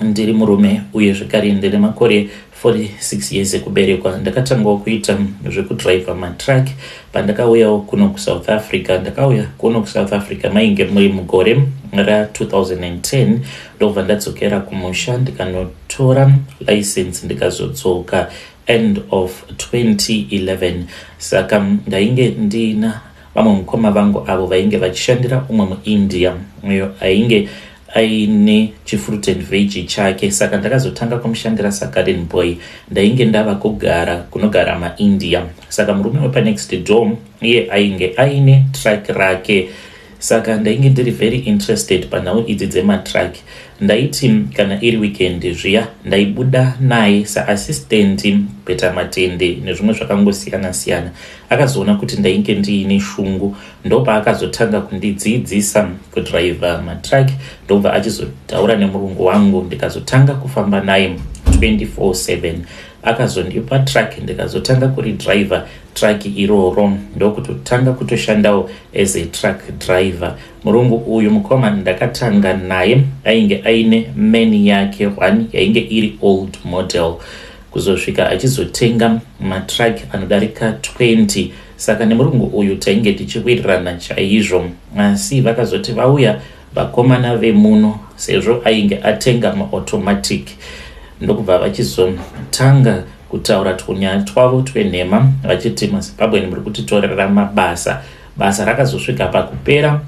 Ndiri murume uye zvekare ndine makore 46 years ekuberekwa. Ndakatangawo kuita zvekudriver matruck pandakauyawo kuno kuSouth Africa. Ndakauya kuno kuSouth Africa mainge muri mugore ra2010 ndobva ndadzokera kumusha ndikanotora license ndikazodzoka end of 2011 saka ndainge ndina Vamwe mukoma vangu avo vainge vachishandira umwe muIndia uyo ainge aine chifruit and vege chake saka ndakazotanga kumushandira sagarden boy ndainge ndava kugara kunogara maindia saka murume wepanext door iye ainge aine truck rake saka ndainge ndiri very interested panhau idzi dzematruck ndaiti kana iri weekend zviya ndaibuda naye saassistant peta matende nezvimwe zvakangosiyana siyana Akazoona kuti ndainge ndiine shungu ndopaakazotanga kundidziidzisa kudriver matruck ndobva achizotaura nemurungu wangu ndikazotanga kufamba naye 24/7 akazondipa truck ndikazotanga kuri driver truck iroro ndokutotanga kutoshandawo as a truck driver murungu uyu mukoma ndakatanga naye ainge aine mani yake one yainge iri old model kuzosvika achizotenga matruck anodarika 20 saka nemurungu uyu tainge tichiwirirana chaizvo asi vakazoti vauya vakomana vemuno sezvo ainge atenga maautomatic ndokubva vachizotanga kutaura twunyaya twavo twenhema vachiti mazimbabweni muri kutitorera mabasa basa rakazosvika pakupera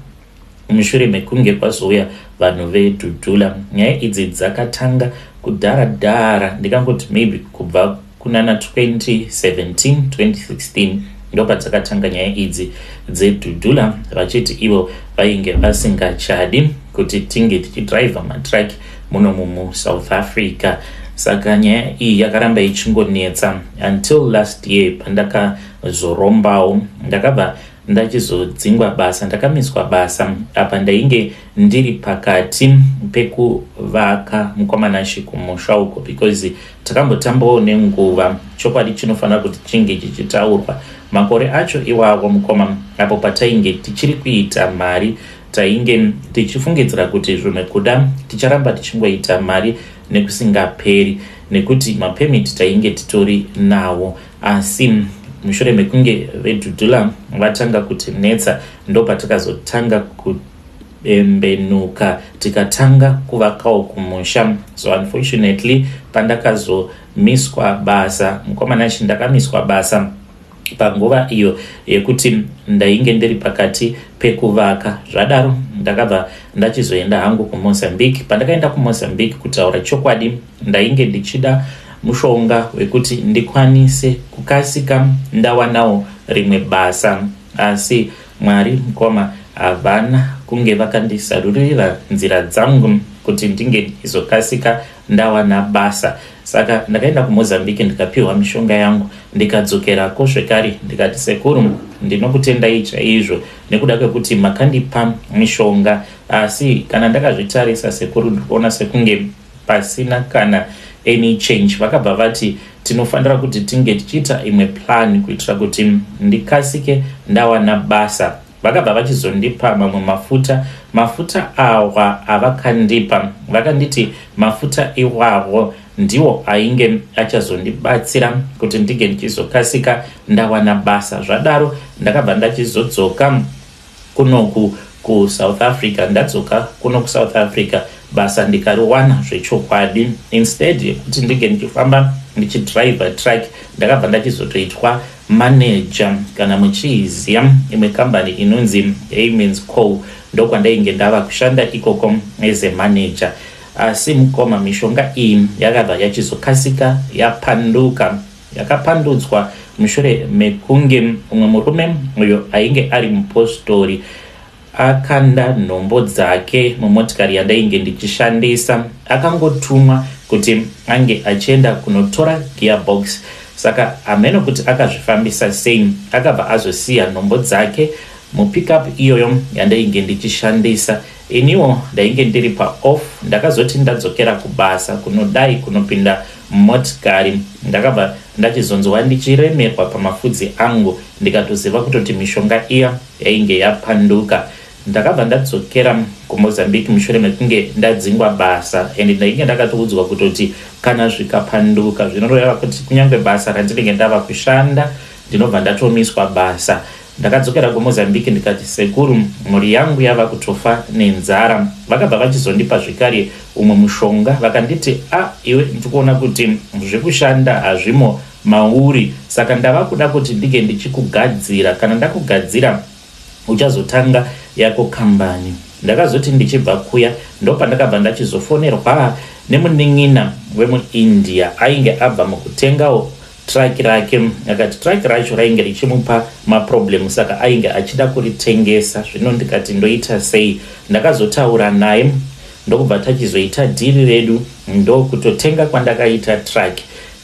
mushure mekunge kwazouya vanhu vedhudhula nyaya idzi dzakatanga kudhara dhara ndikangoti maybe kubva kunana 2017 2016 ndopadzakatanga nyaya idzi dzedhudhula vachiti ivo vainge vasingachadi kuti tinge tichidriver matraki muno mumusouth africa saka nyaya iyi yakaramba ichingonetsa until last year pandakazorombawo ndakabva ndachizodzingwa basa ndakamiswa basa apa ndainge ndiri pakati pekuvaka mukwamanashe kumusha uko because takambotambawo nenguva chokwadi chinofanira kuti chinge chichitaurwa makore acho iwawo mukoma apo patainge tichiri kuita mari tainge tichifungidzira kuti zvimwe kuda ticharamba tichingoita mari nekusingaperi nekuti mapemiti tainge titori nawo Asi mushure mekunge vedudula vatanga kutinetsa ndopatakazotanga kuti bembenuka tikatanga kuvakawo kumusha so unfortunately pandakazomiswa basa mukomana chi ndakamiswa basa panguva iyo yekuti ndainge ndiri pakati pekuvaka zvadaro ndakabva ndachizoenda hangu kumozambique pandakaenda kumozambique kutaura chokwadi Ndainge ndichida mushonga wekuti ndikwanise kukasika ndawanawo rimwe basa asi Mwari mukoma havana kunge vakandisarurira nzira dzangu kuti ndinge ndizokasika ndawana basa saka ndakaenda kumozambique ndikapiwa mishonga yangu ndikadzokerako zvekare ndikati sekuru ndinokutendai chaizvo nekuda kwekuti makandipa mishonga asi kana ndakazvitarisa sekuru ndikuona sekunge pasina kana any change vakabva vati tinofanira kuti tinge tichiita imwe plan kuitira kuti ndikasike ndawana basa vakabva vachizondipa mamwe mafuta mafuta awa avakandipa vakanditi mafuta iwawo ndiwo ainge achazondibatsira kuti ndinge ndichizokasika ndawana basa zvadaro ndakabva ndachizodzoka Kuno ku ku South Africa ndadzoka kuno ku South Africa basa ndikariwana zvechokwadi instead yekuti ndinge ndichifamba ndichidriver truck ndakabva ndachizotoitwa manager kana muchiiziya imwe kambani inonzi Amens Co ndokwandainge ndava kushanda ikoko as a manager asi mukoma mishonga iyi yakabva yachizokasika yapanduka yakapandudzwa mushure mekunge mumwe murume uyo ainge ari mupostori akanda nhombo dzake mumotikari yandainge ndichishandisa akangotumwa kuti ange achienda kunotora gearbox saka hameno kuti akazvifambisa sei akabva azosiya nhombo dzake mupickup iyoyo yandainge ndichishandisa Iniwo ndainge ndiri pa off ndakazoti ndadzokera kubasa kunodai kunopinda motikari ndakabva ndachizonzwa ndichiremerwa pamafudzi angu ndikatoziva kutoti mishonga iya yainge yapanduka. Ndakabva ndadzokera kuMozambique mushure mekunge ndadzingwa basa and ndainge ndakatoudzwa kutoti kana zvikapanduka zvinoreva kuti kunyange basa randinenge ndava kushanda ndinobva ndatomiswa basa. Ndakadzokera kuMozambique ndikati sekuru mhuri yangu yava kutofa nenzara. Vakabva vachizondipa zvekare umwe mushonga vakanditi a iwe ndikuona kuti zvekushanda hazvimo mauri saka ndava kuda kuti ndinge ndichikugadzira kana ndakugadzira uchazotanga yako kambani. Ndakazoti ndichibva kuya ndopandakabva ndachizofonerwa nemunin'ina wemuIndia ainge abva mukutengawo Truck rake akati truck racho rainge richimupa maproblem saka ainge achida kuritengesa zvino ndikati ndoita sei ndakazotaura naye ndokubva tachizoita dhiri redu ndokutotenga kwandakaita truck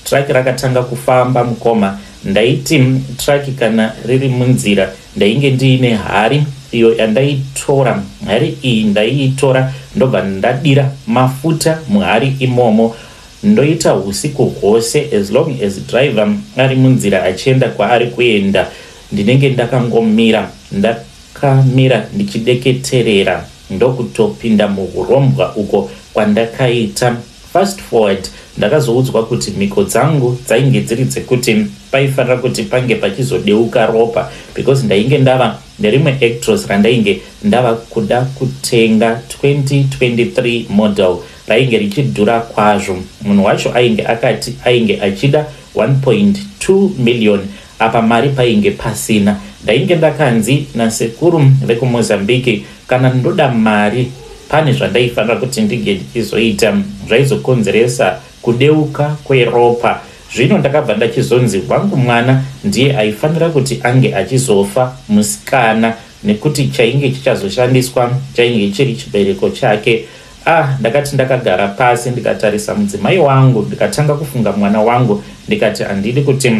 truck rakatanga kufamba mukoma ndaiti truck kana riri munzira ndainge ndiine hari iyo yandaitora hari iyi ndaiitora ndobva ndadira mafuta muhari imomo Ndoita husiku hwose as long as driver ari munzira achienda kwaari kuenda ndinenge ndakangomira. Ndakamira ndichideketerera ndokutopinda muhurombwa uko kwandakaita. Fast forward ndakazoudzwa kuti mhiko dzangu dzainge dziri dzekuti paifanira kuti pange pachizodeuka ropa because ndainge ndava nerimwe Actros randainge ndava kuda kutenga 2023 model rainge richidhura kwazvo. Munhu wacho ainge akati ainge achida 1.2 million apa mari painge pasina. Ndainge ndakanzi nasekuru vekuMozambique kana ndoda mari pane zvandaifanira kuti ndinge ndichizoita zvaizokonzeresa kudeuka kweropa. Zvino ndakabva ndachizonzi wangu mwana ndiye aifanira kuti ange achizofa musikana nekuti chainge chichazoshandiswa chainge chiri chibereko chake. Ah, ndakati ndakagara pasi ndikatarisa mudzimai wangu ndikatanga kufunga mwana wangu ndikati handidi kuti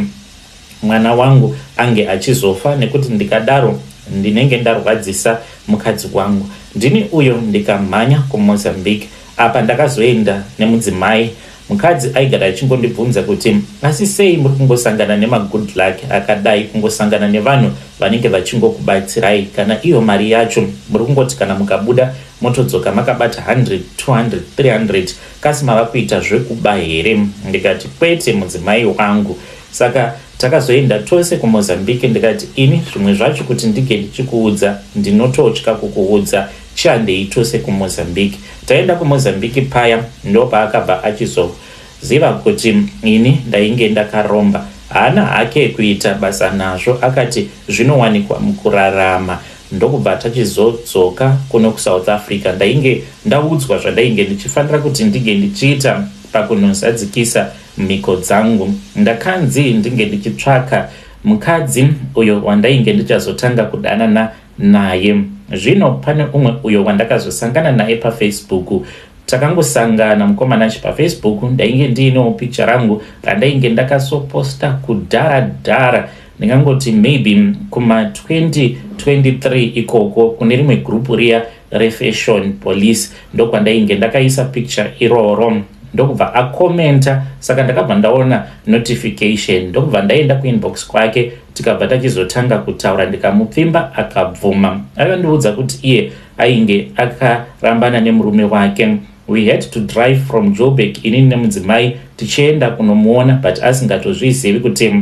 mwana wangu ange achizofa nekuti ndikadaro ndinenge ndarwadzisa mukadzi wangu ndini uyo ndikamhanya kumozambique apa ndakazoenda nemudzimai Mukadzi aigara achingondibvunza kuti asi sei muri kungosangana nemagood luck akadai kungosangana nevanhu vanenge vachingokubatsirai kana iyo mari yacho muri kungoti kana mukabuda motodzoka makabata 100 200 300 kasi mava kuita zvekuba here ndikati kwete mudzimai wangu saka takazoenda tose kumozambique ndikati ini zvimwe zvacho kuti ndike ndichikuudza ndinototya kukuudza Tiandei tose kuMozambique. Taenda kuMozambique paya ndopaakabva achizoziva kuti ini ndainge ndakaromba. Haana hake kuita basa nazvo akati zvinowanikwa mukurarama ndokubva tachizodzoka kuno kuSouth Africa. Ndainge ndaudzwa zvandainge ndichifanira kuti ndinge ndichiita pakunozadzikisa mhiko dzangu. Ndakanzi ndinge ndichitsvaka mukadzi uyo wandainge ndichazotanga kudanana naye zvino pane umwe uyo wandakazosangana naye pafacebook takangosangana mukomana achi pafacebook ndainge ndiinewo picture rangu randainge ndakasoposta kudhara dhara ndingangoti maybe kuma 2023 ikoko kune rimwe grupu riya refashion police ndokwandainge ndakaisa picture iroro ndokubva akomenta saka ndakabva ndaona notification ndokubva ndaenda kuinbox kwake tikabva tachizotanga kutaura ndikamupfimba akabvuma akandiudza kuti iye ainge akarambana nemurume wake we had to drive from jobek inini nemudzimai tichienda kunomuona but asingatozvizivi kuti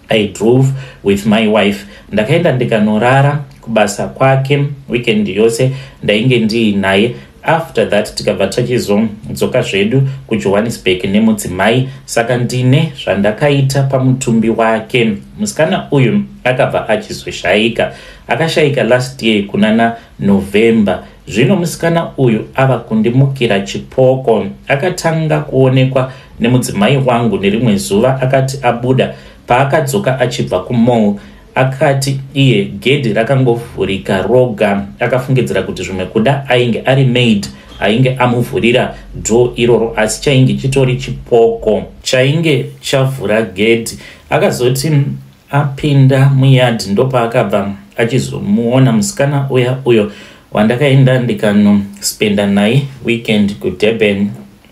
i drove with my wife ndakaenda ndikanorara kubasa kwake weekend yose ndainge ndiinaye after that tikabva tachizodzoka zvedu kujohannesburg nemudzimai saka ndine zvandakaita pamutumbi wake musikana uyu akabva achizoshaika akashaika last year kunana november zvino musikana uyu ava kundimukira chipoko akatanga kuonekwa nemudzimai wangu nerimwe zuva akati abuda paakadzoka achibva kumall Akati iye gedhi rakangovhurika roga akafungidzira kuti zvimwe kuda ainge ari maid ainge amuvhurira dho iroro asi chainge chitori chipoko chainge chavhura gedhi. Akazoti apinda muyard ndopaakabva achizomuona musikana uya uyo wandakaenda ndikanospenda naye weekend kudurban.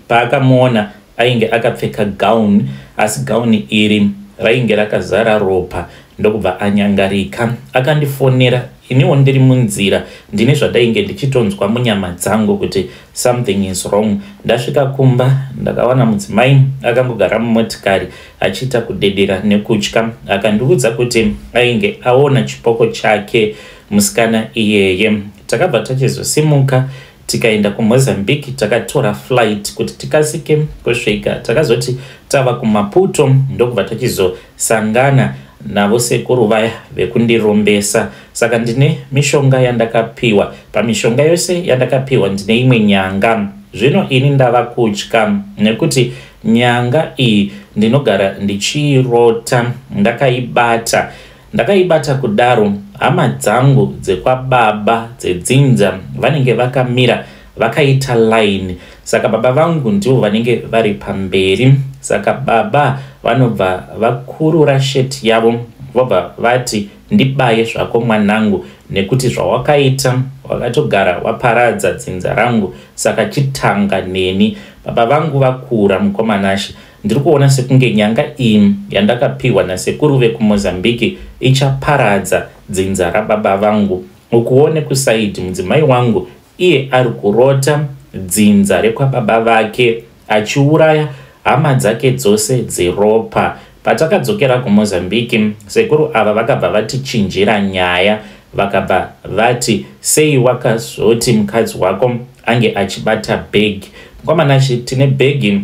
Paakamuona Ainge akapfeka gown asi gown iri rainge rakazara ropa ndokubva anyangarika. Akandifonera iniwo ndiri munzira ndine zvandainge ndichitonzwa munyama dzangu kuti something is wrong. Ndasvika kumba ndakawana mudzimai akangogara mumotikari achiita kudedera nekutya. Akandiudza kuti ainge aona chipoko chake musikana iyeye. Takabva tachizosimuka tikaenda kumozambique takatora flight kuti tikasike kusvika takazoti tava kumaputo ndokubva tachizosangana navo sekuru vaya vekundirombesa saka ndine mishonga yandakapiwa pamishonga yose yandakapiwa ndine imwe nyanga zvino ini ndava kutya nekuti nyanga iyi ndinogara ndichiirota ndakaibata Ndakaibata kudaro hama dzangu dzekwababa dzedzinza vanenge vakamira vakaita line saka baba vangu ndivo vanenge vari pamberi saka baba vanobva vakurura sheti yavo vobva vati ndibaye zvako mwanangu nekuti zvawakaita wakatogara waparadza dzinza rangu saka chitanga neni baba vangu vakura mukomanashe Ndiri kuona sekunge nyanga iyi yandakapihwa nasekuru vekuMozambique ichaparadza dzinza rababa vangu. Ukuwo nekusaidhi mudzimai wangu iye ari kurota dzinza rekwababa vake achiuraya hama dzake dzose dzeropa. Patakadzokera kuMozambique, sekuru ava vakabva vatichinjira nyaya vakabva vati sei wakazoti mukadzi wako ange achibata bhegi. Mkwamana Shi, tine bhegi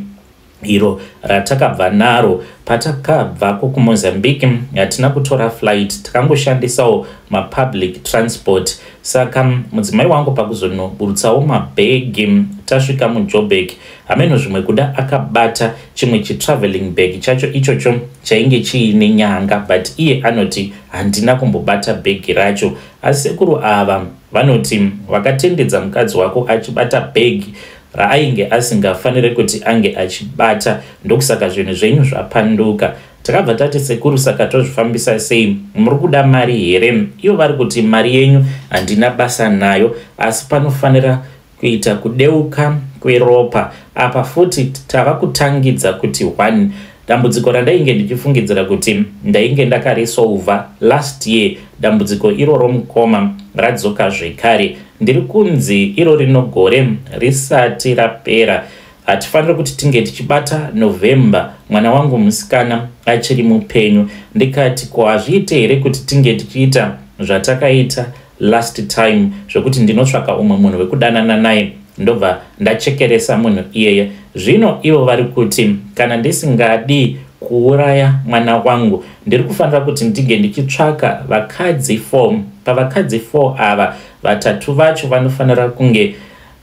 iro ratakabva naro patakabvako kumozambique hatina kutora flight takangoshandisawo mapublic transport saka mudzimai wangu pakuzonoburutsawo mabhegi tasvika mujobek hameno zvimwe kuda akabata chimwe chitraveling bag chacho ichocho chainge chiine nyanga but iye anoti handina kumbobata bhegi racho asi sekuru ava vanoti vakatendedza mukadzi wako achibata bhegi raainge asingafanire kuti ange achibata ndokusaka zvinhu zvenyu zvapanduka takabva tati sekuru saka tozvifambisa sei muri kuda mari here ivo vari kuti mari yenyu handina basa nayo asi panofanira kuita kudeuka kweropa apa futi tava kutangidza kuti one Dambudziko randainge ndichifungidzira kuti ndainge ndakarisouva last year dambudziko iroro mukoma radzoka zvekare. Ndiri kunzi iro rino gore risati rapera. Hatifaniri kuti tinge tichibata November mwana wangu musikana achiri mupenyu. Ndikati ko hazviite here kuti tinge tichiita zvatakaita last time zvekuti ndinotsvaka umwe munhu wekudanana naye ndobva ndachekeresa munhu iyeye zvino ivo vari kuti kana ndisingadi kuuraya mwana wangu ndiri kufanira kuti ndinge ndichitsvaka vakadzi four pavakadzi four ava vatatu vacho vanofanira kunge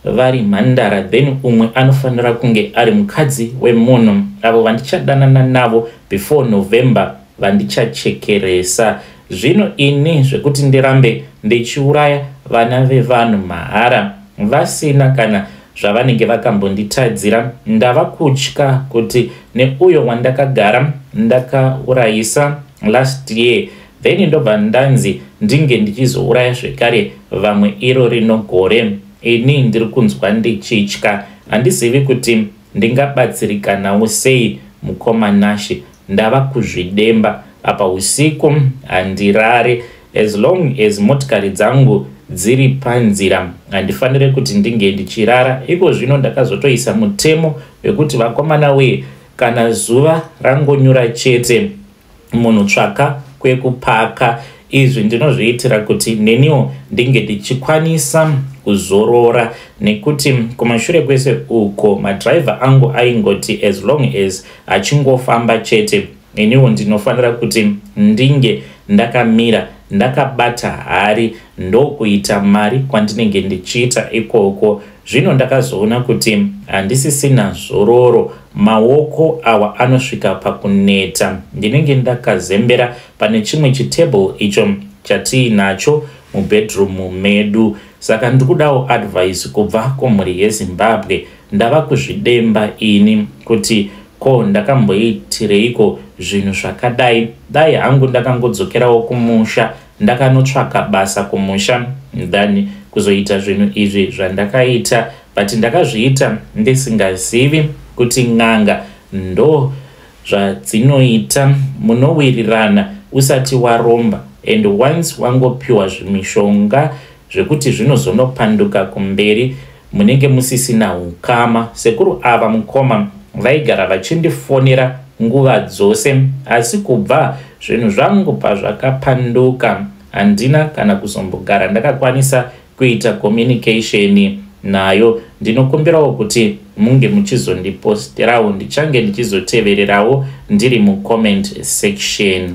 vari mhandara then umwe anofanira kunge ari mukadzi wemunhu avo vandichadanana navo before november vandichachekeresa zvino ini zvekuti ndirambe ndichiuraya vana vevanhu mahara vasina kana zvavanenge vakambonditadzira ndava kutya kuti neuyo wandakagara ndakaurayisa last year then ndobva ndanzi ndinge ndichizouraya zvekare vamwe iro rino gore ini ndiri kunzwa ndichitya handizivi kuti ndingabatsirikanawo sei mukoma nashe ndava kuzvidemba apa usiku handirare as long as motikari dzangu dziri panzira handifanire kuti ndinge ndichirara iko zvino ndakazotoisa mutemo wekuti vakomana wee kana zuva rangonyura chete munhu tsvaka kwekupaka izvi ndinozviitira kuti neniwo ndinge ndichikwanisa kuzorora nekuti kumashure kwese uko madhiraivha angu aingoti as long as achingofamba chete iniwo ndinofanira kuti ndinge ndakamira ndakabata hari ndokuita mari kwandinenge ndichiita ikoko Zvino ndakazoona kuti handisisina zororo, maoko awa anosvika pakuneta. Ndinenge ndakazembera pane chimwe chitable icho chatiinacho mubedroom medu. Saka ndikudawo advice kubva kumhuri yeZimbabwe. Ndava kuzvidemba ini kuti ko ndakamboitireiko zvinhu zvakadai. Dai hangu ndakangodzokerawo kumusha Ndakanotsvaka basa kumusha than kuzoita zvinhu izvi zvandakaita but ndakazviita ndisingazivi kuti n'anga ndo zvadzinoita munowirirana usati waromba and once wangopiwa zvimishonga zvekuti zvinozonopanduka kumberi munenge musisina ukama sekuru ava mukoma vaigara vachindifonera nguva dzose asi kubva zvinhu zvangu pazvakapanduka handina kana kuzombogara ndakakwanisa kuita communication nayo ndinokumbirawo kuti munge muchizondiposterawo ndichange ndichizotevererawo ndiri mucomment section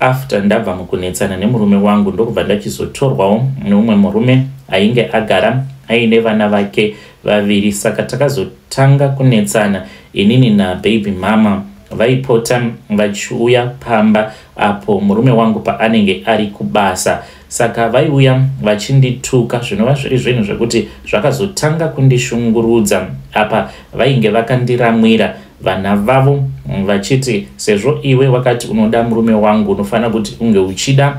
after ndabva mukunetsana nemurume wangu ndokubva ndachizotorwawo neumwe murume ainge agara aine vana vake vaviri saka takazotanga kunetsana inini nababy mama vaipota vachiuya pamba apo murume wangu paanenge ari kubasa Saka vaiuya vachindituka zvinova zviri zvinhu zvekuti zvakazotanga kundishungurudza apa vainge vakandiramwira vana vavo vachiti sezvo iwe wakati unoda murume wangu unofanira kuti unge uchida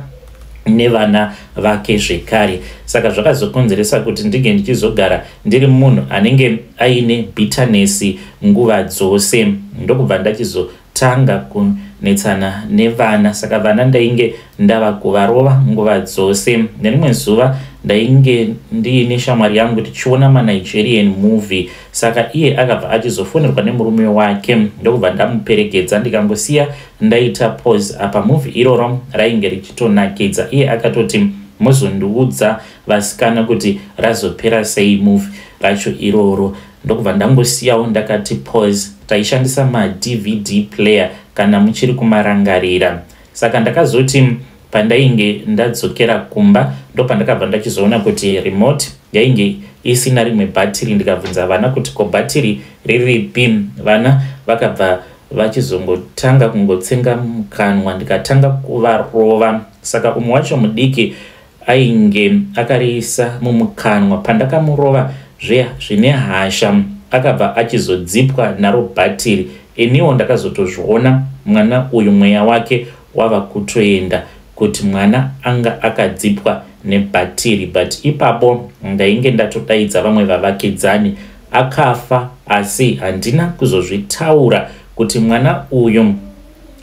nevana vake zvekare saka zvakazokonzeresa kuti ndinge ndichizogara ndiri munhu anenge aine bitanesi nguva dzose ndokubva ndachizo tanga kunetsana nevana saka vana ndainge ndava kuvarova nguva dzose nerimwe zuva ndainge ndiine shamwari yangu tichiona manigerian movie saka iye akabva achizofonerwa nemurume wake ndokubva ndamuperekedza ndikangosiya ndaita pose apa movie iroro rainge richitonakidza iye akatoti mozondiudza vasikana kuti razopera sei movie racho iroro ndokubva ndangosiyawo ndakati pause taishandisa madvd player kana muchiri kumarangarira saka ndakazoti pandainge ndadzokera kumba ndopandakabva ndachizoona kuti remote yainge isina rimwe bhatiri ndikabvunza vana kuti ko bhatiri riripi vana vakabva vachizongotanga kungotsenga mukanwa ndikatanga kuvarova saka umwe wacho mudiki ainge akariisa mumukanwa pandakamurova zviya zvine hasha akabva achizodzipwa naro bhatiri iniwo ndakazotozviona mwana uyu mweya wake wava kutoenda kuti mwana anga akadzipwa nebhatiri but ipapo ndainge ndatodaidza vamwe vavakidzani akafa asi handina kuzozvitaura kuti mwana uyu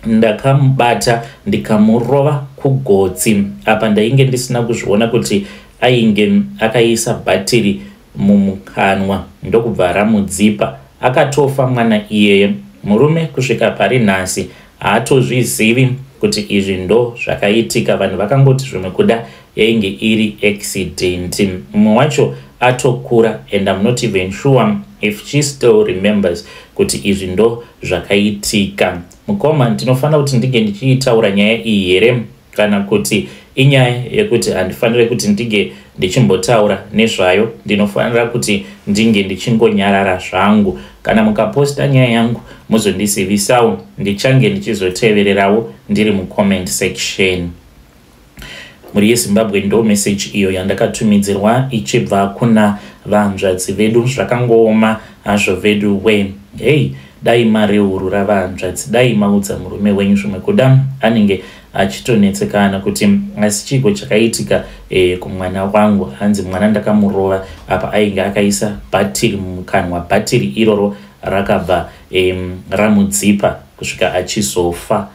ndakamubata ndikamurova kugotsi apa ndainge ndisina kuzviona kuti ainge akaisa bhatiri mumukanwa ndokubva aramudzipa akatofa mwana iyeye murume kusvika pari nhasi haatozvizivi kuti izvi ndo zvakaitika vanhu vakangoti zvimwe kuda yainge iri accident mumwe wacho atokura and I'm not even sure if she still remembers kuti izvi ndo zvakaitika mukoma ndinofanira kuti ndinge ndichiitaura nyaya iyi here kana kuti inyaya yekuti handifanire kuti ndinge ndichimbotaura nezvayo ndinofanira kuti ndinge ndichingonyarara zvangu kana mukaposta nyaya yangu muzondisivisawo ndichange ndichizotevererawo ndiri mucomment section mhuri yezimbabwe ndo message iyo yandakatumidzirwa ichibva kuna vahanzvadzi vedu zvakangooma hazvo vedu we hey dai mareurura vahanzvadzi dai maudza murume wenyu zvimwe kuda anenge achitonetsekana kuti asi chiiko chakaitika e, kumwana wangu hanzi mwana ndakamurova apa ainge akaisa bhatiri mumukanwa bhatiri iroro rakabva e, ramudzipa kusvika achizofa